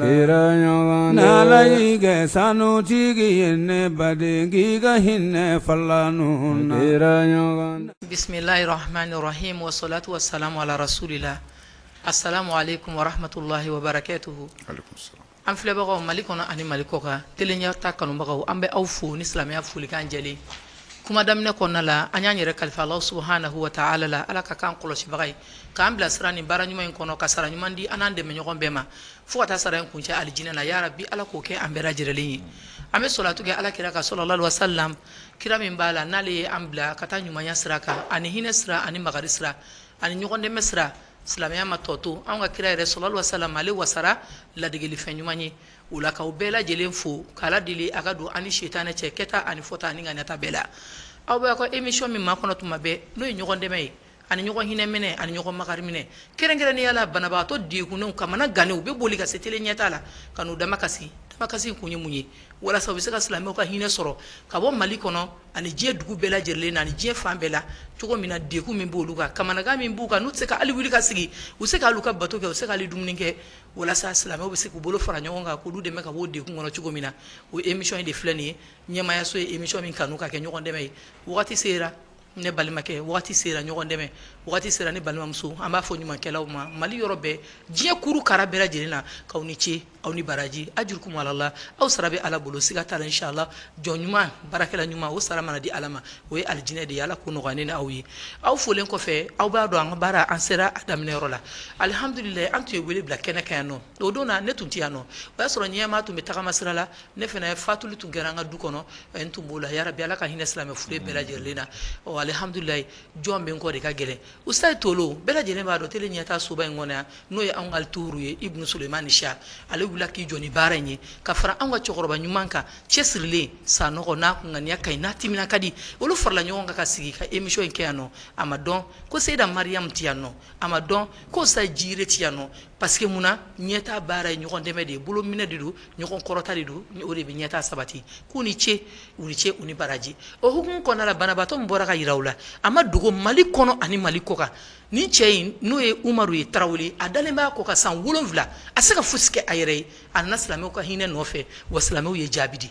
n'ala y'i kɛ sanutigi ye ne baden ka hinɛ falaw la bisimilahi rahamani rahimi wasalatu wasalamu ala rasulilahi asalamu alekumu warahamatulahi wabarakatuhu an filɛbagaw mali kɔnɔ ani mali kɔkan tele ɲɛtaa kanubagaw an bɛ aw fo ni silamɛya folikan jɛlen kuma daminɛ kɔnɔna la an y'an yɛrɛ kalifa ala subuhanahu wa taala la ala ka k'an kɔlɔsibaga ye k'an bilasira nin baara ɲuman in kɔnɔ ka sara ɲuman di an n'an dɛmɛɲɔgɔn bɛɛ ma fo ka taa sara in kuncɛ alijinɛ na ya rabi ala k'o kɛ an bɛɛ lajɛlen ye an bɛ salatu kɛ ala kira kan salalahu alehi wa salam kira min b'a la n'ale ye an bila ka taa ɲumanya sira kan ani hinɛ sira ani makari sira ani ɲɔgɔn dɛmɛ sira silamɛya ma tɔ to an ka kira yɛrɛ salalahu alehi wa salam ale wasara ladegelifɛn ɲuman ye o la k'aw bɛɛ lajɛlen fo k'ala deli a ka don an ni sitanɛ cɛ kɛta ani fɔta ani ŋaniyata bɛɛ la aw bɛ aw ka emisiyɔn min makɔnɔ tuma bɛɛ n'o ye ɲɔgɔn dɛmɛ ye ani ɲɔgɔn hinɛminɛ ani ɲɔgɔn makariminɛ kɛrɛnkɛrɛnnenya la banabaatɔ degunw kamanaganw u bɛ boli ka se tele ɲɛtaa la ka n'u damakasi damakasi kun ye mun ye walasa u bɛ se ka silamɛw ka hinɛ sɔrɔ ka bɔ mali kɔnɔ ani diɲɛ dugu bɛɛ lajɛlen na diɲɛ fan bɛɛ la cogo min na degun min b'olu kan kamanagan min b'u kan n'u tɛ se ka hali wuli ka sigi u tɛ se k'u ka bato kɛ u tɛ se ka hali dumuni kɛ walasa silamɛw bɛ se k'u bolo fara ɲɔgɔn kan k'olu dɛmɛ ka bɔ degun kɔnɔ cogo min na o emisiyɔn in de filɛ nin ye ɲɛmaayaso ye emisiyɔn min kanu ka kɛ ɲɔgɔn dɛmɛ ye waati sera ne balimakɛ waati sera ɲɔgɔn dɛmɛ waati sera ne balimamuso an b'a fɔ ɲumankɛlaw ma mali yɔrɔ bɛɛ diɲɛ kuru kara bɛɛ lajɛlen na k'aw ni ce aw ni baraji ajurukum alala aw sara bɛ ala bolo siga t'a la insala jɔn ɲuman baarakɛla ɲuman o sara mana di ala ma o ye alijinɛ de ye ala k'o nɔgɔya an ni aw ye aw folilen kɔfɛ aw b'a dɔn an ka baara an sera a daminɛyɔrɔ la alihamdulila an tun ye wele bila kɛnɛ kan yan nɔ o don na ne tun tɛ yan nɔ o y'a sɔrɔ ɲɛma tun bɛ tagama sira la ne fana ye fatuli tun kɛra an ka du kɔnɔ n tun b'o la yɛrɛ bɛ ala ka hinɛ silamɛ fure bɛɛ lajɛlen na ɔ alihamdulila jɔn bɛ kɔ de ka gɛlɛn u sa ye to bɛɛ lajɛlen b'a dɔn tele ɲɛtaa soba in kɔnɔ yan n'o ye anw ka tuuru ye i musomanma ni siya ale wulila k'i jɔ ni baara in ye ka fara an ka cɛkɔrɔba ɲuman kan cɛsirilen sanɔgɔ n'a kun ŋaniya ka n'a tɛmɛna ka di olu farala ɲɔgɔn kan ka sigi ka emisiyɔn in kɛ yan nɔ a ma dɔn ko seda mariyama tɛ yan nɔ a ma dɔn ko sa jiri tɛ yan nɔ Parce que mun na ɲɛtaa baara ye ɲɔgɔn dɛmɛ de ye, bolo minɛ de don, ɲɔgɔn kɔrɔta de don, o de bɛ ɲɛtaa sabati. K'u ni ce, u ni ce, u ni baraji. O hukumu kɔnɔna la, banabaatɔ min bɔra ka jira u la, a ma dogo Mali kɔnɔ ani Mali kɔkan. Nin cɛ in, n'o ye Umaru ye Tarawele, a dalen b'a kɔ kan san wolonwula, a tɛ se ka fosi kɛ a yɛrɛ ye. A nana silamɛw ka hinɛ nɔfɛ, wa silamɛw ye jaabi di.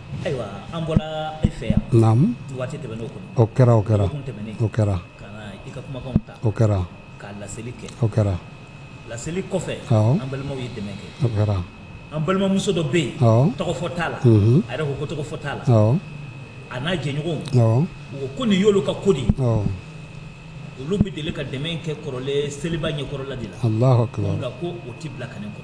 Ayiwa an bɔra e fɛ yan waati tɛmɛnen ka laseli kɛ o laseli kɔfɛ an balimaw ye dɛmɛ kɛ an balimamuso dɔ bɛ yen tɔgɔ fɔ t'a la a yɛrɛ ko ko tɔgɔ fɔ t'a la a n'a jɛɲɔgɔnw ko nin y'olu ka kodi olu bɛ deli ka dɛmɛ kɛ kɔrɔlen seliba ɲɛkɔrɔla de la ko o tɛ bila kɛnɛ kan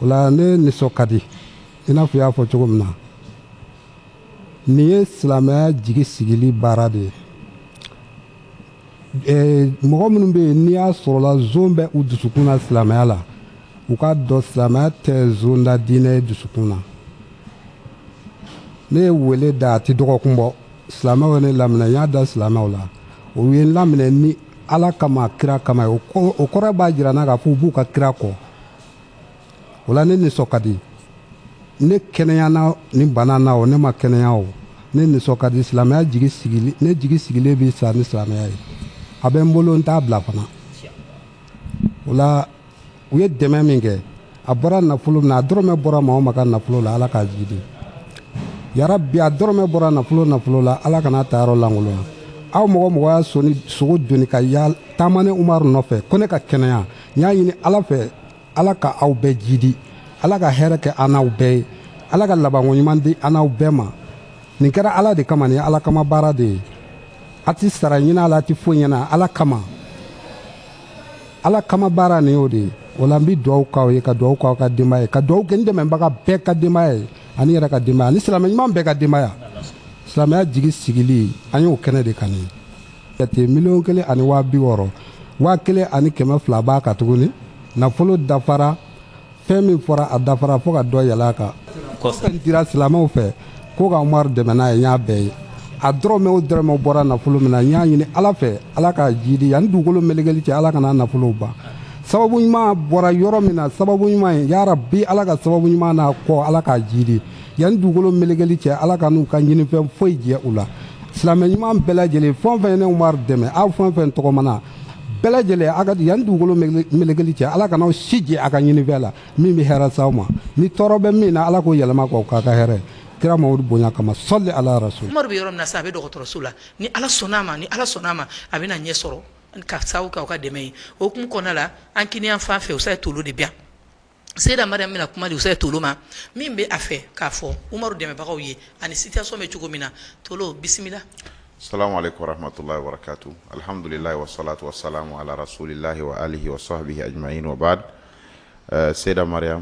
o la ne nisɔn ka di i n'a fɔ i y'a fɔ cogo min na nin ye silamɛya jigi sigili baara de ye mɔgɔ minnu bɛ yen n'i y'a sɔrɔla zon bɛ u dusukun na silamɛya la u k'a dɔn silamɛya tɛ zonda diinɛ ye dusukun na ne ye wele da a tɛ dɔgɔkun bɔ silamɛw ye ne laminɛ n y'a da silamɛw la u ye n laminɛ ni ala kama kira kama ye o kɔrɔ b'a jira an na k'a fɔ u b'u ka kira kɔ o la ne nisɔn ka di ne kɛnɛyana ni bana na o ne ma kɛnɛya o ne nisɔn ka di silamɛya jigi sigili ne jigi sigilen bɛ sa ni silamɛya ye a bɛ n bolo n t'a bila fana o la u ye dɛmɛ min kɛ a bɔra nafolo min a dɔrɔmɛ bɔra maa maa ka nafolo la ala k'a jiidi yarabi a dɔrɔmɛ bɔra nafolo nafolo la ala kana a tayɔrɔ lankolonya aw mɔgɔ o mɔgɔ y'a sɔn sogo doni ka ya taama ne umaru nɔfɛ ko ne ka kɛnɛya n y'a ɲini ala fɛ ala ka aw bɛɛ jiidi ala ka hɛrɛ kɛ an n'aw bɛɛ ye ala ka labanko ɲuman di an n'aw bɛɛ ma nin kɛra ala de kama nin ye ala kama baara de ye a tɛ sara ɲin'a la a tɛ foyi ɲin'a la ala kama ala kama baara nin y'o de ye o la n bɛ dugawu k'aw ye ka dugawu k'aw ka denbaya ye ka dugawu kɛ n dɛmɛbaga bɛɛ ka denbaya ye ani yɛrɛ ka denbaya ani silamɛ ɲuman bɛɛ ka denbaya silamɛya jigi sigili an y'o kɛnɛ de kan jate miliyɔn kelen ani waa bi wɔɔrɔ waa kelen ani kɛmɛ fila b'a kan tuguni nafolo dafara fɛn min fɔra a dafara fo ka dɔ yɛlɛ a kan kɔsɛbɛ dira silamɛw fɛ ko ka Umaru dɛmɛ n'a ye n y'a bɛɛ ye a dɔrɔmɛ o dɔrɔmɛ bɔra nafolo min na n y'a ɲini ala fɛ ala k'a jiidi yanni dugukolo melekeli cɛ ala kana nafolow ban sababu ɲuman bɔra yɔrɔ min na sababu ɲuman ye yarabi ala ka sababu ɲuman n'a kɔ ala k'a jiidi yanni dugukolo melekeli cɛ ala kan'u ka ɲinifɛn foyi jɛ u la silamɛ ɲuman bɛɛ lajɛlen fɛn o fɛn ye ne Umaru dɛmɛ aw fɛn o fɛn tɔgɔmana bɛɛ lajɛlen a ka yanni dugukolo melekeli cɛ ala kana aw si jɛ a ka ɲinifɛn la min bɛ hɛrɛ s'aw ma ni tɔɔrɔ bɛ min na ala k'o yɛlɛma k'o k'a ka hɛrɛ kira mamadu bonya kama sali ala rasul umaru bɛ yɔrɔ min na sa a bɛ dɔgɔtɔrɔso la ni ala sɔnna a ma ni ala sɔnna a ma a bɛna ɲɛ sɔrɔ ka sababu k'aw ka dɛmɛ ye o hukumu kɔnɔna la an kinin fan fɛ useyi tolo de bi seda mari bɛna kuma di useyi tolo ma min bɛ a fɛ k'a fɔ umaru dɛmɛbagaw ye ani situation bɛ cogo min na to bisimila samatɔla warato alihamdulila wasato sa ala rasulilahi sahahiyi seda maria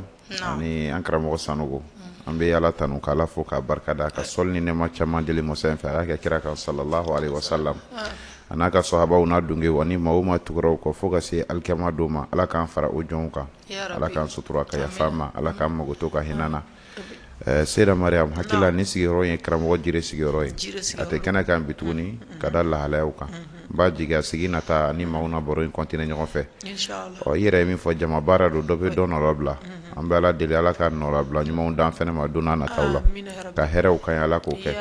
ni an karamɔgɔ san an bɛ ala tanu k'ala fo ka barika da a ka sali ni nɛɛma caman deli masa in fɛ a k'a kɛ kira kan salalah wasalam a n'a ka sahabaw n'a dungew ani maa o maa tugu kɔ fo ka se alikiyama don ma ala k'an fara o jɔn kan Ala k'an sutura ka yafa an ma Ala k'an makoto ka hinɛ an na. Ɛɛ Seyida Mariam hakili la nin sigiyɔrɔ ye karamɔgɔ Jire sigiyɔrɔ ye. A ti kɛnɛ kan bi tuguni ka da lahalayaw kan. N b'a jigi a sigi nata an ni maaw na baro in continuer ɲɔgɔn fɛ. Ɔɔ i yɛrɛ ye min fɔ jama baara don dɔ bi dɔ nɔnabila an bɛ Ala deli Ala ka nɔnabila ɲumanw d'an fɛnɛ ma don na nataw la. Ka hɛrɛw k'an ye Ala k'o kɛ.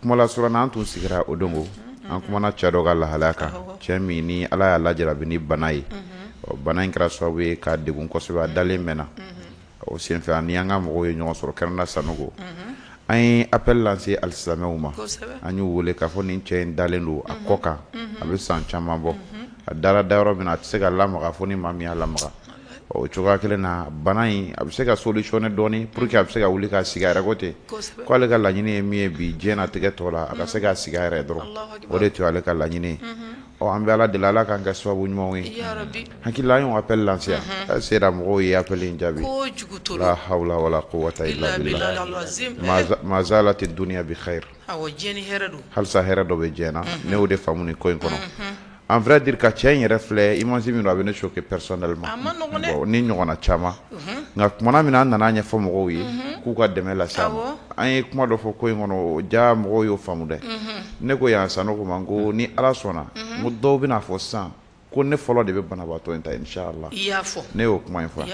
kuma lasurunya na an tun sigira o don an kumana cɛ dɔ ka lahalaya kan cɛ min ni ala y'a lajarabi ni bana ye ɔ bana in kɛra sababu ye k'a degun kosɛbɛ a dalen mɛnna o senfɛ ani an ka mɔgɔw ye ɲɔgɔn sɔrɔ kɛnɛ na sanɔkɔ an ye apɛli lanse alisilamɛw ma an y'u weele k'a fɔ nin cɛ in dalen don a kɔ kan a bɛ san caman bɔ a dara da yɔrɔ min a tɛ se ka lamaga fo ni maa min y'a lamaga o cogoya kelen na bana in a bɛ se ka solutionner dɔɔnin pour que a bɛ se ka wuli ka sigi a yɛrɛ ko ten k'ale ka laɲini ye min ye bi diɲɛ na tɛgɛ tɔgɔ la a ka se ka sigi a yɛrɛ dɔrɔn o de tun ye ale ka laɲini ye ɔ an bɛ ala deli ala k'an kɛ sababu ɲumanw ye hakili la y'o apɛli lanse a seyida mɔgɔw ye apɛli in jaabi la hawula wala kuwata ila bi mazalati dunya bikhayri halisa hɛrɛ dɔ bɛ diɲɛna ne y'o de faamu nin ko in kɔnɔ en vrai dire ka cɛ in yɛrɛ filɛ image minnu a bɛ ne choquer personnellement nin ɲɔgɔnna caman nka tumana min na an nana a ɲɛfɔ mɔgɔw ye k'u ka dɛmɛ lase an ye kuma dɔ fɔ ko in kɔnɔ ja mɔgɔw y'o faamu dɛ ne ko yan sanɔkɔ ma n ko ni ala sɔnna mɔgɔ dɔw bɛn'a fɔ san ko ne fɔlɔ de bɛ banabaatɔ in ta insala i y'a fɔ ne y'o kuma in fɔ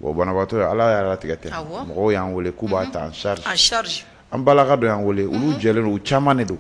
o banabaatɔ ye ala y'a latigɛ ten mɔgɔw y'an wele k'u b'a ta en charge an balimakɛ dɔ y'an wele olu jɛlen u caman de don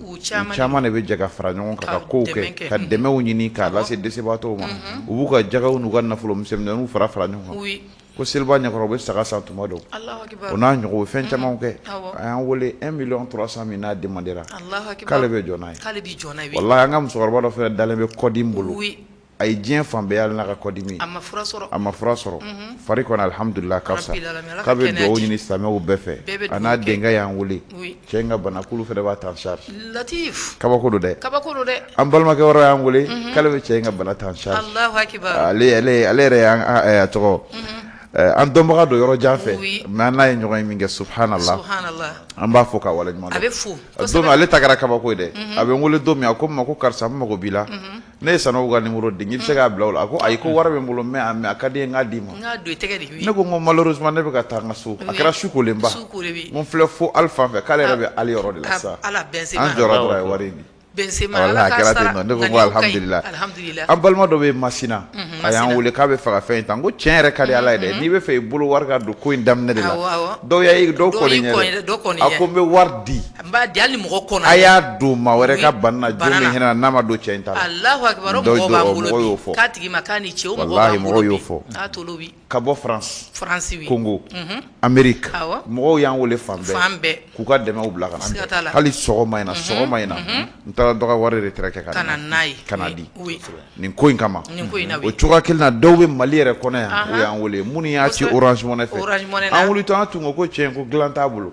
caman de bɛ jɛ ka fara ɲɔgɔn kan ka ko kɛ ka dɛmɛw ɲini k'a lase dɛsɛbaatɔw ma u b'u ka jakaw n'u ka nafolo misɛnmanninw fara fara ɲɔgɔn Ko seliba ɲɛkɔrɔ u bɛ saga san tuma dɔw, Alahu akibaru, o n'a ɲɔgɔn u bɛ fɛn camanw kɛ, awɔ, a y'an wele 1 million 300 mille n'a demande ra, Alahu akibaru, k'ale bɛ jɔ n'a ye, k'ale bɛ jɔ n'a ye, walahi an ka musokɔrɔba dɔ fana dalen bɛ kɔdimi bolo, oui, a ye diɲɛ fan bɛɛ yaala n'a ka kɔdimi ye, a ma fura sɔrɔ, a ma fura sɔrɔ, unhun, fari kɔni alihamudulila a ka fisa, rabil alamina, k'a bɛ dugawu ɲini silamɛw bɛɛ fɛ, bɛɛ bɛ dugawu kɛ, a n'a denkɛ y'an wele, oui Cɛ in ka bana k'olu fana b'a ta en charge latif kabako don dɛ kabako don dɛ an balimakɛ wɛrɛ y'an wele unhun k'ale bɛ cɛ in ka bana ta en charge Alahu akibaru ale ale ale yɛrɛ y'an a ɛ a tɔgɔ unhun ɛ an dɔnbaga don yɔrɔ jan fɛ oui mais an n'a ye ɲɔgɔn ye minkɛ subuhaanalahi subuhaanalahi an b'a fo k'a waleɲumandɔn a bɛ fo kosɛbɛ don min ale ta kɛra kabako ye dɛ unhun a bɛ n wele don min a ko n ma ko karisa n mago b'i la unhun Ne ye sanɔkɔ ka numéro di i bɛ se k'a bila o la a ko ayi ko wari bɛ n bolo mais a mais a ka di n ye n k'a d'i ma ne ko malheureusement ne bɛ ka taa n ka so a kɛra su kolen b'an filɛ fo ali fan fɛ k'ale yɛrɛ bɛ ali yɔrɔ de la sa wari an balima dɔ bɛ masina a y'an weele k'a b'a fɛ ka fɛn in ta ko cɛ in yɛrɛ ka di ala ye dɛ n'i b'a fɛ i bolo wari ka don ko in daminɛ de la dɔw y' dɔw a ko n bɛ wari di B'a di ni mɔgɔ kɔnɔ a y'a dɔn maa wɛrɛ ka ban n'a ma don cɛ ta mɔgɔ y'a fɔ ka bɔ faransi kongo ameriki mɔgɔw y'an weele fan bɛɛ k'u ka dɛmɛ bila ka hali sɔgɔma in na sɔgɔma in na n taara dɔ ka wari retire ka n'a ye ka di nin ko in kama o cogoya kelen na dɔw bɛ mali yɛrɛ kɔnɔ yan o y'an weele minnu y'a ci orange money fɛ ko cɛ ko dilan t'a bolo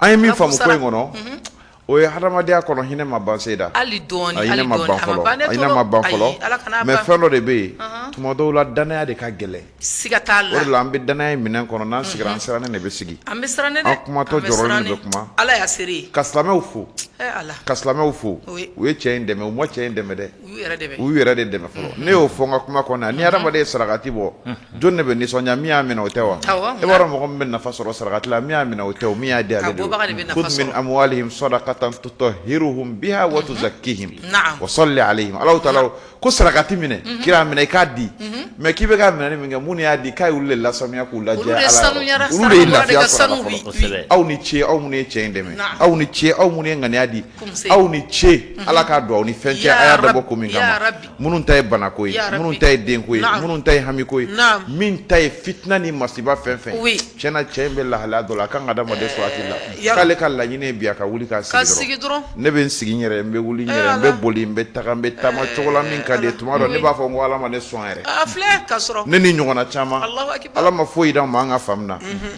An ye min faamu ko in kɔnɔ, unhun, o ye hadamadenya kɔnɔ hinɛ ma ban seyida, hali dɔɔnin, a hinɛ ma ban fɔlɔ, ayi, mais fɛn dɔ de bɛ yen tuma dɔw la danaya de ka gɛlɛn, siga t'a la, o de la an bɛ danaya in minɛ kɔnɔ n'an sigira an sirannen de bɛ sigi, an bɛ siran dɛ, an kumatɔ jɔrɔlen de bɛ kuma, Ala y'a seere ye, ka silamɛw fo, ee Ala, ka silamɛw fo, u ye cɛ in dɛmɛ u ma cɛ in dɛmɛ dɛ U yɛrɛ de bɛ u yɛrɛ de dɛmɛ fɔlɔ ne y'o fɔ n ka kuma kɔnɔ ni hadamaden ye sarakati bɔ jɔni de bɛ nisɔndiya min y'a minɛ o tɛ wa awɔ e b'a dɔn mɔgɔ min bɛ nafa sɔrɔ sarakati la min y'a minɛ o tɛ o min y'a di ale de don bɔbaga de bɛ nafa sɔrɔ khudh min amwalihim sadaqatan tutahhiruhum biha wa tuzakkihim naam wa salli alayhim Alahu taala ko ko sarakati minɛ kira minɛ i k'a di mais k'i bɛ ka minɛni min kɛ minnu y'a di k'a y'olu de lasanuya k'u lajɛya olu de Ala yɔrɔ sanuyara olu de ye sarakabɔla de lafiya ka sɔrɔ a la sanu fɔlɔ bi kosɛbɛ aw ni ce aw minnu ye cɛ in dɛmɛ naam aw ni ce aw minnu ye ŋaniya di aw ni ce mhm. ala ka don aw ni fɛn cɛ a y'a dabɔ ko min kama minnu ta ye banako ye minnu ta ye denko ye minnu ta ye hamiko ye min ta ye fitina ni masiba fɛn fɛn tiɲɛ na cɛ in bɛ lahalaya dɔ la a kan ka adamaden sɔn hakili la eh, k'ale ka laɲini ye bi a ka wuli ka sigi dɔrɔn ne bɛ n sigi n yɛrɛ n bɛ wuli n eh, yɛrɛ n bɛ boli n bɛ taga n bɛ taama eh, cogo la min ka di n ye tuma dɔ ne b'a fɔ n ko ala ma ne sɔn yɛrɛ ne ni ɲɔgɔnna caman ala ma foyi d'an ma an ka faamu na mhm.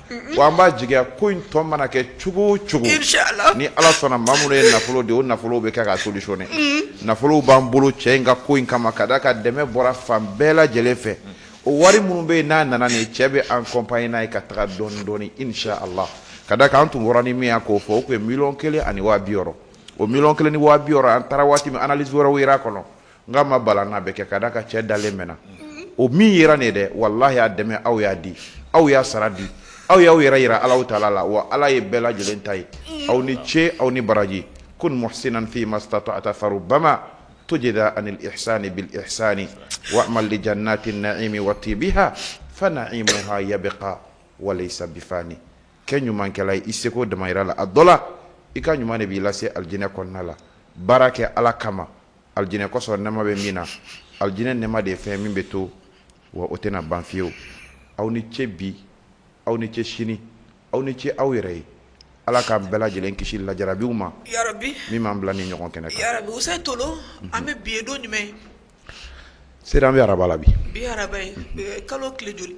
Wa an b'a jigiya ko in tɔ mana kɛ cogo cogo ni ala sɔnna ma minnu ye nafolo di o nafolo bɛ kɛ ka solutionner nafolo b'an bolo cɛ in ka ko in kama ka da a ka dɛmɛ bɔra fan bɛɛ lajɛlen fɛ o wari minnu bɛ yen n'a nana nin cɛ bɛ accompagner ka taga dɔɔni dɔɔni inshallah ka da a kan an tun wari nin min ko fɔ o tun ye miliyɔn kelen ani waa bi wɔɔrɔ o miliyɔn kelen ni waa bi wɔɔrɔ an taara waati min analyse wɛrɛw yera a kɔnɔ Nka a ma bala an na a bɛ kɛ ka d'a kan cɛ dalen mɛnna o min yera nin ye dɛ walahi aw y'a dɛmɛ aw y'a di aw y'a sara di aw y'aw yɛrɛ yira Alahu taala la wa Ala ye bɛɛ lajɛlen ta ye aw ni ce aw ni baraji kun muhsinan fii mastatata farubama tujida anil ihsaani bil ihsaani wa'mal li jannaati na'iimi wa tiibiha fa na'iimuha yabqa wa laysa bifaani kɛ ɲumankɛla ye i seko damayira la a dɔ la i ka ɲuman de b'i lase alijinɛ kɔnɔna la baara kɛ Ala kama alijinɛ kɔsɔn nɛma bɛ min na alijinɛ nɛma de ye fɛn min bɛ to wa o tɛna ban fiyewu aw ni ce bi aw ni ce sini aw ni ce aw yɛrɛ ye ala k'an bɛɛ lajɛlen kisi lajarabiw ma min b'an bila nin ɲɔgɔn kɛnɛ an bɛ bi don jumɛn seyida an bɛ araba la bi kalo joli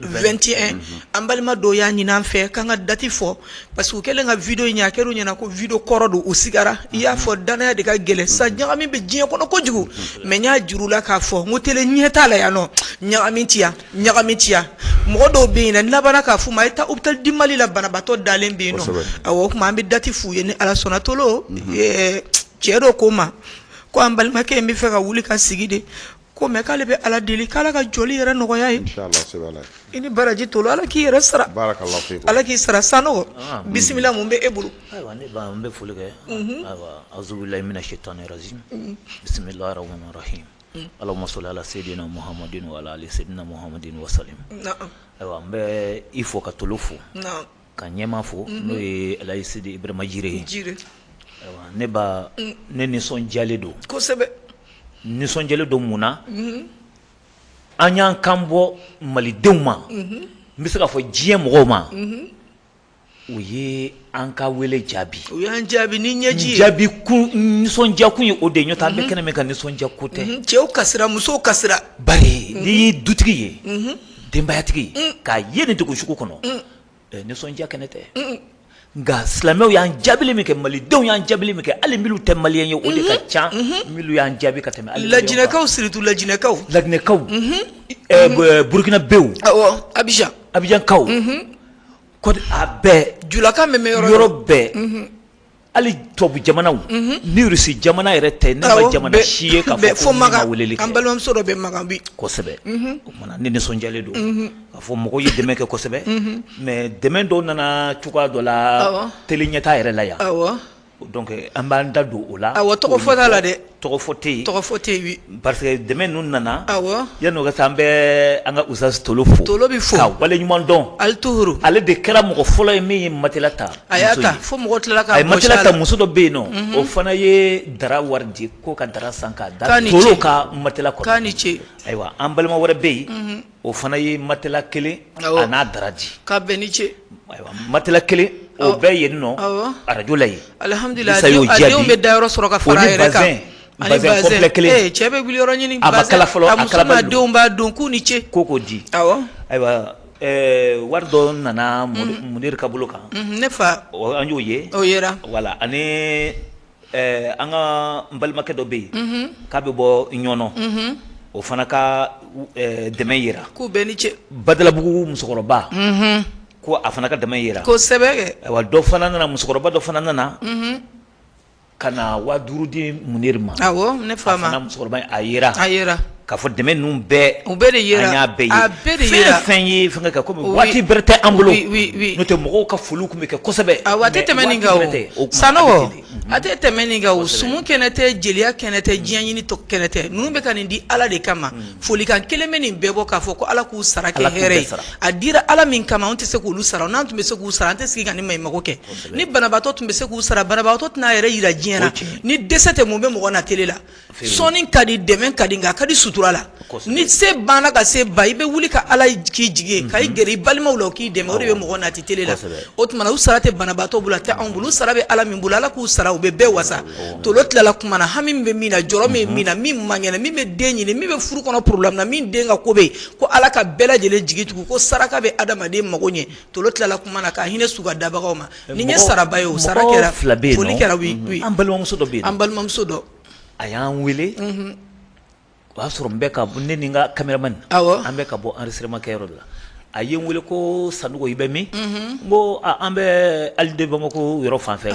2tɛn an balima dɔw y'a ɲini an fɛ k'an ka dati fɔ parce que kɛlen ka vidéo in ye kelen ɲɛna ko vidéo kɔrɔ don u sigara i y'a fɔ dannaya de ka gɛlɛn sa ɲagami bɛ diɲɛ kɔnɔ kojugu mais n y'a jira u la k'a fɔ n ko tiɲɛ t'a la yan nɔ ɲagami ciya ɲagami ciya mɔgɔ dɔw bɛ yen na laban k'a fɔ ma i taa u taa di mali la banabaatɔ dalen bɛ yen nɔ a o tuma an bɛ dati f' u ye ni ala sɔnna tolo cɛ dɔ ko n ma ko an balimakɛ in b'a fɛ ka wuli ka sigi dɛ Ko mɛ k'ale bɛ ala deli k' ka joli yɛrɛ nɔgɔya ye i ni baraji to ala k'i yɛrɛ sara ala k'i sara san o bisimila minnu bɛ e bolo bɛ foli kɛ azlayi si tan bisimila ala muso ala seyidu nahamadudu ala seyiduina muhamadudu sa ayiwa n bɛ i fɔ ka tolo fo ka ɲɛmaa fo n'o ye alaji sidi ibrahima jire ye jire ne ba ne nisɔndiyalen don kosɛbɛ nisɔndiyalen don mun na an y'an kan bɔ malidenw ma n bɛ se k'a fɔ diɲɛ mɔgɔw ma u ye an ka wele jaabi u y'an jaabi ni ɲɛji jaabi kun nisɔndiya kun ye o de ye nɔntɛ an bɛ kɛnɛ min kan nisɔndiya ko tɛ cɛw ka musow ka ba ye n'i ye dutigi ye denbayatigi ye k'i ye nin dugu sugu kɔnɔ nisɔndiya kɛnɛ tɛ nka silamɛw y'an jaabili min kɛ malidenw y'an jaabili min kɛ hali minnu tɛ maliyɛn ye o de ka ca minnu y'an jaabi ka tɛmɛ lajinɛkaw surtout lajinɛkaw lajinɛkaw burukinabew abijan abijankaw a bɛɛ julakan min bɛ yɔrɔ yɔrɔ bɛɛ Hali tubabu jamanaw ni Russie jamana yɛrɛ tɛ ne ma jamana si ye k'a fɔ ko min ma weleli kɛ, an balimamuso dɔ bɛ Makan bi, kosɛbɛ, unhun, o tuma na ne nisɔndiyalen don, unhun, k'a fɔ mɔgɔw ye dɛmɛ kɛ kosɛbɛ, unhun, mais dɛmɛ dɔw nana cogoya dɔ la, awɔ, tele Ɲɛtaa yɛrɛ la yan, awɔ, donc an b'an da don o la, awɔ, tɔgɔ fɔ t'a la dɛ tɔgɔ fɔ tɛ yen, tɔgɔ fɔ tɛ yen, parce que dɛmɛ ninnu nana, awɔ, yani o ka se an bɛ an ka Usitazi Tolo fo, Tolo bɛ fo, k'a waleɲuman dɔn, ali tuhuuru, ale de kɛra mɔgɔ fɔlɔ ye min ye matela ta, a y'a ta fo mɔgɔw tilala k'a gosi a la, a ye matela ta muso dɔ bɛ yen nɔ, o fana ye dara wari di ko ka dara san k'a da Tolo ka matela kɔrɔ, k'a ni ce, ayiwa an balima wɛrɛ bɛ yen o fana ye matɛla kelen a n'a dara di k'a bɛɛ ni ce ayiwa matɛla kelen o bɛ yen nɔ arajo la yen alihamdulila sa y'o jaabi a denw bɛ da yɔrɔ sɔrɔ ka fara a yɛrɛ kan o ni bazɛn bazɛn kɔnpilɛ kelen ee cɛ bɛ wuli yɔrɔ ɲini a ma kala fɔlɔ a muso n'a denw b'a don k'u ni ce ko k'o di awɔ ayiwa ɛɛ wari dɔ nana munir ka bolo kan ne fa an y'o ye o yera wala ani Ɛɛ an ka balimakɛ dɔ bɛ yen k'a bɛ bɔ ɲɔnɔ o fana ka dɛmɛ jira k'u bɛɛ ni ce badalabugu musokɔrɔba ko a fana ka dɛmɛ jira kosɛbɛ wa dɔ fana nana musokɔrɔba dɔ fana nana ka na waa duuru di munir ma ne fa musokɔrɔba a jira a Ka fɔ dɛmɛ ninnu bɛɛ u bɛɛ de yera an y'a bɛɛ ye a bɛɛ de yera fɛn o fɛn ye fɛngɛ kɛ comme oui waati bɛrɛ tɛ an bolo oui oui oui n'o tɛ mɔgɔw ka foliw tun bɛ kɛ kosɛbɛ awɔ a tɛ tɛmɛ nin kan o mais waati bɛrɛ tɛ o tuma Sanɔgɔ a bɛ ten de a tɛ tɛmɛ nin kan o kosɛbɛ sumu kɛnɛ tɛ jeliya kɛnɛ tɛ diɲɛ ɲini kɛnɛ tɛ ninnu bɛ ka nin di Ala de kama folikan kelen bɛ nin bɛɛ bɔ k'a fɔ ko Ala k'u sara kɛ Ala k'u hɛrɛ bɛɛ ye sara a dira Ala min kama anw tɛ se k'olu sara o n'an tun bɛ se k'u sara an tɛ sigi ka nin maɲumanko kɛ kosɛbɛ ni banabaatɔ tun bɛ se k'u sara banabaatɔ tɛna a yɛrɛ jira diɲɛ na o ye tiɲɛ ye ni dɛsɛ tɛ mun bɛ mɔgɔ na télé la sɔnni ka di dɛmɛ ka di nka ka di sutura la ni se banna ka se ban i bɛ wuli ka ala k'i jigi ka i gɛrɛ i balimaw la k'i dɛmɛ o de bɛ mɔgɔ na télé la o tuma u sara tɛ banabaatɔ bolo tɛ anw bolo sara bɛ ala min bolo ala k'u sara u bɛ bɛɛ wasa to tilala tuma na hami bɛ min na jɔrɔ bɛ min na min man kɛnɛ min bɛ den ɲini min bɛ furu kɔnɔ problème na min den ka ko bɛ yen ko ala ka bɛɛ lajɛlen jigi tugu ko saraka bɛ adamaden mako ɲɛ to tilala na ka hinɛ su ka dabagaw ma nin ye sara ye o sara kɛra fila bɛ yen kɛra an balimamuso dɔ bɛ an balimamuso dɔ a y'an weele o y'a sɔrɔ n bɛ ka bɔ ne ni n ka caméraman an bɛ ka bɔ enregistrement kɛyɔrɔ la a ye n weele ko Sanɔgɔ i bɛ min n ko an bɛ ali Bamako yɔrɔ fan fɛ a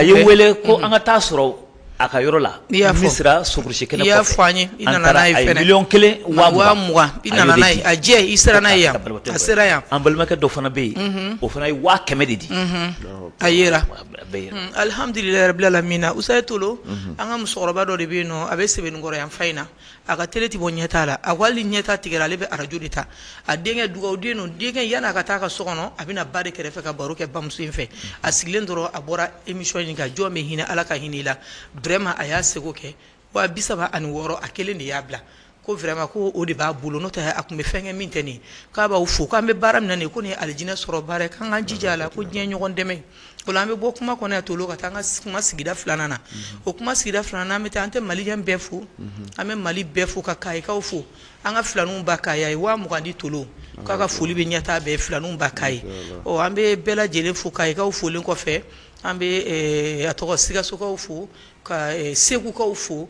y'an wele ko an ka taa a sɔrɔ a ka yɔrɔ la n'i y'a fɔ sera surusi kelen y'a fɔ an ye i nana n'a ye miliyɔn kelen waa mugan i nana n'a ye a jɛ i sera n'a ye yan a sera yan an balimakɛ dɔ fana bɛ yen o fana ye waa kɛmɛ de di a yera alihamdulilayi rabilalamina Usayi Tolo an ka musokɔrɔba dɔ de bɛ yen nɔn a bɛ Sebenikɔrɔ yan fan in na a ka télé tɛ bɔ Ɲɛtaa la a ko hali ni Ɲɛtaa tigɛra ale bɛ arajo de ta a denkɛ dugawuden don denkɛ yann'a ka taa a ka so kɔnɔ a bɛ na ba de kɛrɛfɛ ka baro kɛ bamuso in fɛ a sigilen dɔrɔn a bɔra émission in kan jɔn min hinɛ ala ka hinɛ la ma a y'a segu kɛ waa bi saba ani wɔɔrɔ a kelen de y'a bila ko vraiment ko o de b'a bolo n'o tɛ a tun bɛ fɛnkɛ min tɛmɛ nin kan a b'a fɔ k'an bɛ baara min na nin ko nin alijinɛ sɔrɔ baara ye k'an ka jija a la ko diɲɛ ɲɔgɔn dɛmɛ O an bɛ bɔ kuma kɔnɔ Tolo ka taa an ka kuma sigida filanan na o kuma sigida filanan bɛ taa an tɛ maliyɛn bɛɛ fo an bɛ mali bɛɛ fo ka Kayikaw fo an ka filanba Kayi a ye waa mugan di Tolo k'a ka foli bɛ Ɲɛtaa bɛɛ filanba Kayi ɔ an bɛ bɛɛ lajɛlen fo Kayikaw folen kɔfɛ an bɛ a tɔgɔ Sikasokaw fo ka segukaw fo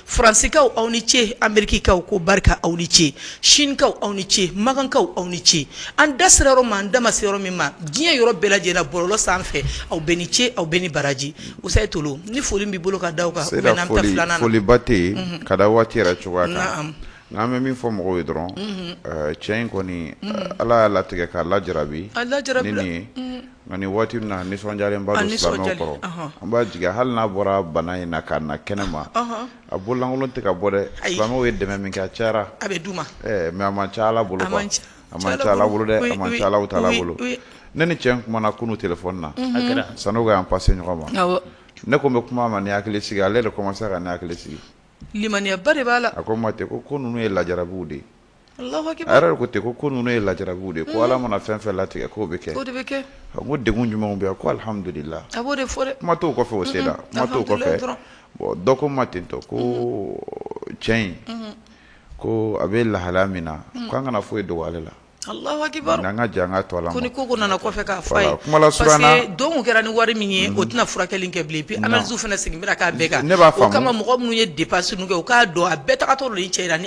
Faransikaw aw ni ce Amerikikaw ko barika aw ni ce Sinikaw aw ni ce makankaw aw ni ce an da sera yɔrɔ ma an da ma se yɔrɔ min ma diɲɛ yɔrɔ bɛɛ lajɛlen bɔlɔlɔ sanfɛ aw bɛɛ ni ce aw bɛɛ ni baraji Usayi Tolo ni foli b'i bolo ka da aw kan foliba tɛ ka da waati yɛrɛ cogoya la n'an bɛ min fɔ mɔgɔw ye dɔrɔn cɛ in kɔni ala y'a latigɛ k'a laja bi a la Nka nin waati in na a nisɔndiyalen ba don, a nisɔndiyalen, silamɛw kɔrɔ, ɔnhɔn, an b'a jigin hali n'a bɔra bana in na ka na kɛnɛ ma, ɔnhɔn, a bolo lankolon tɛ ka bɔ dɛ, ayi, silamɛw ye dɛmɛ min kɛ a cayara, a bɛ d'u ma, ɛ mais a man ca Ala bolo, a man ca Ala bolo dɛ, a man ca Alahu taala bolo, oui, oui, ne ni cɛ in kumana kunun téléphone na, unhun, a kɛra, sanni o ka y'an passer ɲɔgɔn ma, awɔ, ne ko n bɛ kuma a ma ni hakili sigi ye, ale yɛrɛ de commencer ra ka ne hakili sigi, limaniya ba de b'a la, a ko n ma ten ko ko ninnu ye lajarabiw de ye. ko ten ko ko ninnu ye lajarabiw de ye ko Ala mana fɛn fɛn latigɛ k'o bɛ kɛ o de bɛ kɛ n ko degun jumɛnw bɛ yan ko alihamudulila a b'o de fɔ dɛ kuma t'o kɔfɛ o se la kuma t'o kɔfɛ bon dɔ ko n ma ten tɔ ko cɛ in ko a bɛ lahala min na k'an kana foyi dogo ale la nka an ka jɛn an ka to Ala ma ko ni ko o ko nana kɔfɛ k'a fɔ a ye parce que don tun kɛra ni wari min ye o tɛna furakɛli in kɛ bilen et puis analyse fana seginna ka k'a bɛɛ kan o kama mɔgɔ minnu ye dépense ninnu kɛ u k'a dɔn a bɛɛ tagatɔ don nin cɛ in na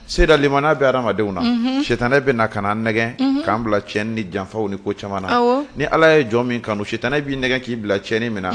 Limaniya bɛ hadamadenw na sitanɛ bɛ na k'an nɛgɛn k'an bila cɛnni ni janfaw ni ko caman na ni ala ye jɔn min kanu sitanɛ b'i nɛgɛn k'i bila cɛnni min na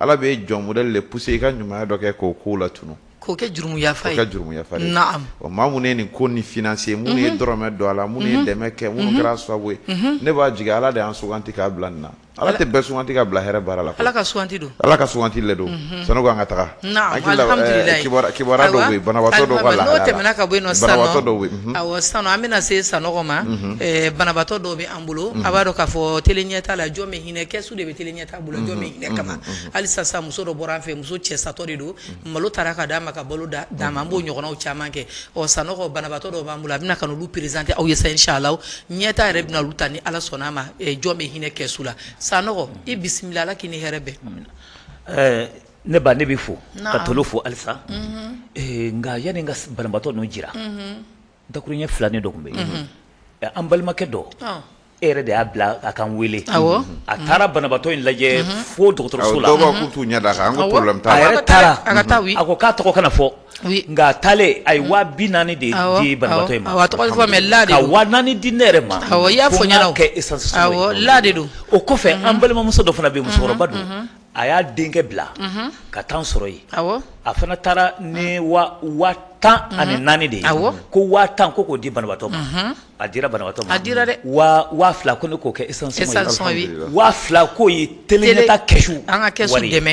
ala bɛ jɔn wɛrɛ de pousser i ka ɲuman dɔ kɛ k'o ko latunun k'i ka jurumu yafa i ma minnu ye nin ko nin financer minnu ye dɔrɔmɛ don a la minnu ye dɛmɛ kɛ minnu kɛra sababu ye ne b'a jigin ala de y'an suganti k'an bila nin na Ala tɛ bɛɛ suganti ka bila hɛrɛ baara la koyi, Ala ka suganti don, Ala ka suganti le don, unhun, sani ko an ka taga, naamu, alihamudulilayi, kibaruya dɔ bɛ yen banabagatɔ dɔ ka lahala la, n'o tɛmɛna ka bɔ yen nɔ sisan nɔ, banabagatɔ dɔw bɛ yen, awɔ, sisan nɔ an bɛna se Sanogo ma, unhun, ɛ banabagatɔ dɔw bɛ an bolo, unhun, a b'a dɔn k'a fɔ tele ɲɛtaa la jɔn bɛ hinɛ kɛsu de bɛ tele ɲɛtaa bolo jɔn bɛ hinɛ kama, unhun, halisa sisan muso dɔ bɔra an fɛ yen muso cɛ satɔ de don, unhun, malo taara ka d'a ma ka balo d'a ma an b'o ɲɔgɔnnaw caman kɛ ɔ Sanogo banabaatɔ dɔw b'an bolo a bɛna k'olu présenter aw ye sa inchallah ɲɛtaa yɛrɛ bɛna olu ta ni ala sɔnna a ma jɔn bɛ hinɛ kɛsu la Sanogo i bisimila ala k'i ni hɛrɛ bɛn ɛɛ ne ba ne bɛ fo ka tolo fo halisa nka yanni n ka banabaatɔ ninnu jira dakuruɲɛ filanin dɔ tun bɛ yen an balimakɛ dɔ E yɛrɛ de y'a bila a ka n wele a taara banabagatɔ in lajɛ fo dɔgɔtɔrɔso la a ko k'a tɔgɔ kana fɔ nka a taalen a ye waa bi naani de di banabagatɔ in ma la ka waa naani di ne yɛrɛ ma i y'a fɔ ko essence la de don o kɔfɛ an balimamuso dɔ fana bɛ musokɔrɔba don a y'a denkɛ bila ka taa n sɔrɔ yen a fana taara ni waa tan ani naani de ye ko waa tan ko k'o di banabatɔ ma a dira banabatɔ a dira dɛ waa fila ko ne k'o kɛ waa fila ko ɲɛtaa ka kɛsu an ka kɛ dɛmɛ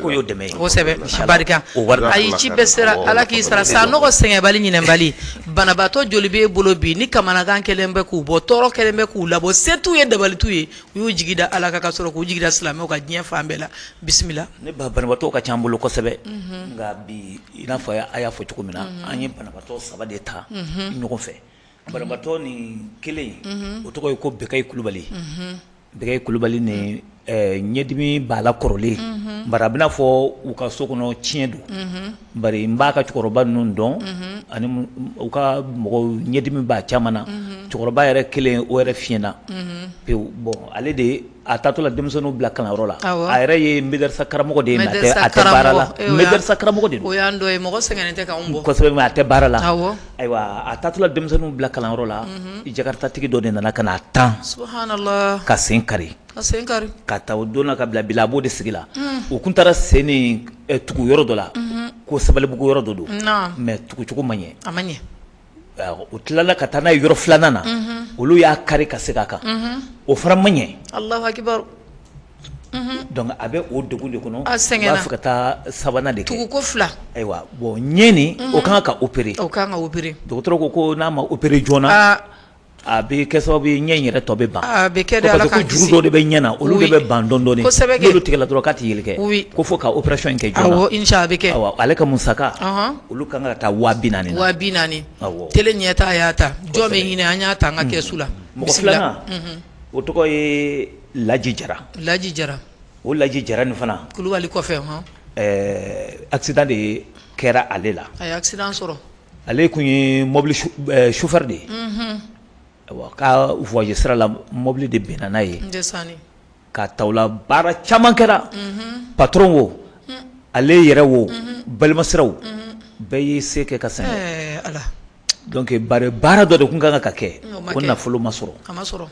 ko y'o dɛmɛsɛbɛ barika o a ye ci bɛɛ sera ala k'i sara Sanogo sɛgɛnbali ɲinɛbali banabagatɔ joli b'i bolo bi ni kamanagan kɛlen bɛ k'u bɔ tɔɔrɔ kɛlen bɛ k'u labɔ se t'u ye dabali t'u ye u y'u jigi da Ala kan ka sɔrɔ k'u jigi da silamɛw kan diɲɛ fan bɛɛ la bisimila nba banabaatɔw ka ca an bolo kosɛbɛ unhun nka bi i n'a fɔ a y'a a y'a fɔ cogo min na unhun an ye banabaatɔ 3 de ta unhun ɲɔgɔn fɛ banabaatɔ nin 1 in unhun o tɔgɔ ye ko Bɛkayi Kulubali unhun Bɛkayi Kulubali nin ɛɛ ɲɛdimi b'a la kɔrɔlen unhun bari a bɛ n'a fɔ u ka so kɔnɔ tiɲɛ don unhun Bari n b'a ka cɛkɔrɔba ninnu dɔn ani u ka mɔgɔw ɲɛdimi b'a caman na cɛkɔrɔba yɛrɛ kelen o yɛrɛ fiɲɛna pewu bon ale de a taatɔ la denmisɛnninw bila kalanyɔrɔ la a yɛrɛ ye mɛdɛrɛsa karamɔgɔ de ye mɛdɛrɛsa karamɔgɔ de a tɛ baara la ayiwa a taatɔ la denmisɛnninw bila kalanyɔrɔ la jakarutatigi dɔ de nana ka na a tan k'a sen kari k'a sen kari ka taa o donna ka bila bila a b'o de sigi la unhun u tun taara sen nin ɛ tugu yɔrɔ dɔ la unhun ko Sabalibugu yɔrɔ dɔ don naam mais tugucogo ma ɲɛ a ma ɲɛ awɔ u tilala ka taa n'a ye yɔrɔ 2 nan na unhun olu y'a kari ka seg'a kan unhun o fana ma ɲɛ Alahu akibaru unhun donc a bɛ o degun de kɔnɔ a sɛgɛnna u b'a fɛ ka taa 3 nan de kɛ tuguko 2 ayiwa bon ɲɛ nin unhun o ka kan ka opérer o ka kan ka opérer dɔgɔtɔrɔ ko ko n'a ma opérer joona aa A bɛ kɛ sababu ye ɲɛ yɛrɛ tɔ bɛ ban bɛ kɛ juru dɔ de bɛ ɲɛ na olu de bɛ ban dɔn tigɛ dɔrɔn ka tɛ kɛ ko fo ka opération kɛ a bɛ kɛ ale ka musaka olu ka kan ka taa waa binaani waa binaani tele Ɲɛta y'a ta jɔn bɛ hinɛ an y'a ta an ka kɛsu la mɔgɔ filanan o tɔgɔ ye laji jara laji jara o laji jara nin fana kulubali kɔfɛ aksidan de kɛra ale la a sɔrɔ Ale tun ye mɔbili sofɛri de ye a ka voyage sira la mɔbili de binna n'a ye ka ta o la baara caman kɛra patɔrɔn wo ale yɛrɛ wo balimasiraw bɛɛ y'u se kɛ ka se a la donc bari baara dɔ de tun ka kan ka kɛ k'o nafolo ma sɔrɔ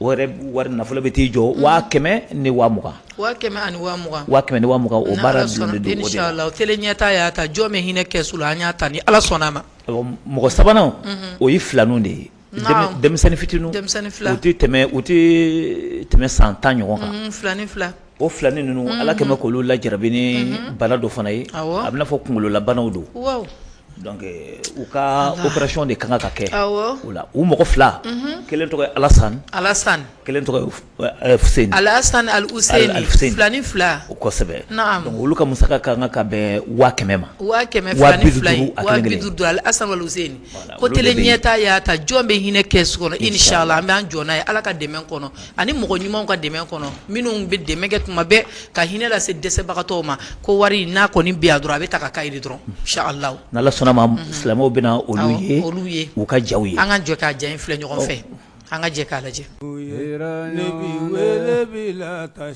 O yɛrɛ wari nafolo bɛ t'i jɔ waa kɛmɛ ni waa mugan waa kɛmɛ ani waa mugan waa kɛmɛ ni waa mugan o baara sɔrɔ don den sɔrɔ la o tele Ɲɛta y'a ta jɔn bɛ hinɛ kɛsu la an y'a ta ni ala sɔnna a ma mɔgɔ sabanan o ye filanin de ye denmisɛnnin fitinin denmisɛnnin fila tɛ tɛmɛ u tɛ tɛmɛ san tan ɲɔgɔn kan filanin fila O filanin ninnu ala kɛmɛ bɛ kolo la jarabini bana dɔ fana ye a bɛ n'a fɔ kunkololabanaw don u ka opération de ka kan ka kɛ u la u mɔgɔ fila kelen tɔgɔ Alasan Alasan kelen Alasan ni fila o kosɛbɛ olu ka musaka ka kan ka bɛn waa kɛmɛ ma waa kɛmɛ don ko tele Ɲɛta y'a ta jɔn bɛ hinɛ kɛsu kɔnɔ inisala an bɛ jɔ n'a ye ala ka dɛmɛ kɔnɔ ani mɔgɔ ɲumanw ka dɛmɛ kɔnɔ minnu bɛ dɛmɛ kɛ tuma bɛɛ ka hinɛ lase dɛsɛbagatɔ ma ko wari n'a kɔni bi dɔrɔn a bɛ ta k'a jira dɔrɔn silamɛw bɛ olu ye olu ye u ka ja ye an ka jɛ ka ja in filɛ ɲɔgɔn fɛ an ka jɛ k'a lajɛ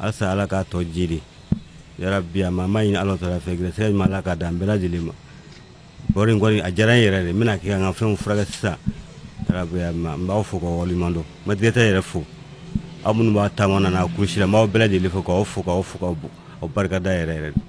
alisa ala k'a tɔ jiidi yarabi a ma ma ɲini ala tɔra fɛ gɛrɛsɛgɛ ɲuman ala k'a d'an bɛɛ lajɛlen ma wari in kɔni a diyara n yɛrɛ de n bɛn'a kɛ ka n ka fɛnw furakɛ sisan yarabiya ma n b'aw fo k'aw waleɲuman dɔn n ma tigɛtɛ yɛrɛ fo aw minnu b'a taama na n'a kɔrɔsi la n b'aw bɛɛ lajɛlen fo k'aw fo k'aw fo k'aw fo aw barika da yɛrɛ yɛrɛ de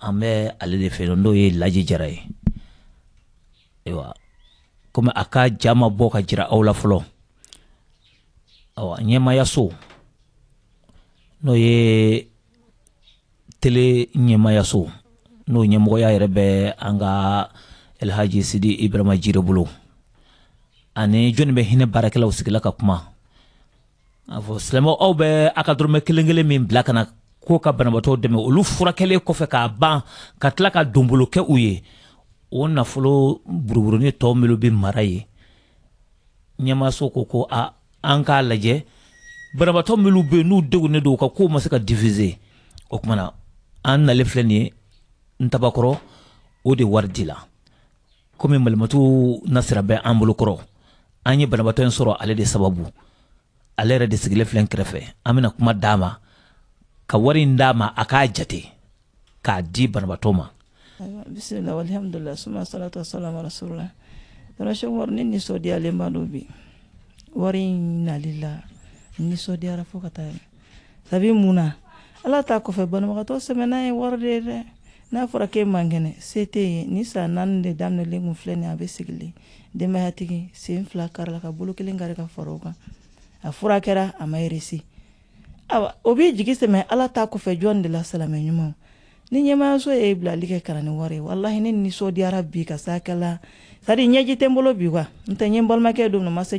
an bɛ ale de fɛ n'o ye laji jara ye ayiwa kɔmi a ka ja ma bɔ ka jira aw la fɔlɔ ɲɛmayaso n'o ye tele ɲɛmayaso n'o ɲɛmɔgɔya yɛrɛ bɛ an ka alihaji sidi ibrayima jirɛ bolo ani jɔnni bɛ hinɛ baarakɛlaw sigila ka kuma a fɔ silamɛ aw bɛ a ka dɔrɔmɛ kelen kelen min bila ka na ko ka banabaatɔ dɛmɛ olu furakɛlen kɔfɛ k'a ban ka tila ka donbolo kɛ u ye o nafolo buruburunin tɔ minnu bɛ mara ye ɲɛmaaso ko ko a an k'a lajɛ banabaatɔ minnu bɛ yen n'u degunnen don u ka kow ma se ka diffuser o kama na an nalen filɛ nin ye ntabakɔrɔ o de wari di la komi malimatu nasira bɛ an bolo kɔrɔ an ye banabaatɔ in sɔrɔ ale de sababu ale yɛrɛ de sigilen filɛ kɛrɛfɛ an bɛna kuma d'a ma ka wari in d'a ma a k'a jate k'a di banabaatɔ ma bisimila alhamdulillah suma salatu wassalamu ala rasulillah Rashin wari ne nisɔndiyalenba don bi wari in nali la nisɔndiyara fo ka taa sabu mun na ala ta kɔfɛ banabagatɔ sɛmɛnan ye wari de ye dɛ n'a fɔra k'e man kɛnɛ se t'i ye nin san naani de daminɛlen kun filɛ nin a bɛ sigilen denbayatigi sen fila karila ka bolo kelen kari ka fara o kan a furakɛra a ma réussi awa o b'i jigi sɛmɛ ala ta kɔfɛ jɔn de la silamɛ ɲumanw ni ɲɛmayaso ye bilali kɛ ka na ni wari ye walahi ne nisɔndiyara bi ka sakɛla sadi ɲɛji tɛ n bolo bi wa n tɛ nin balimakɛ dɔn ma se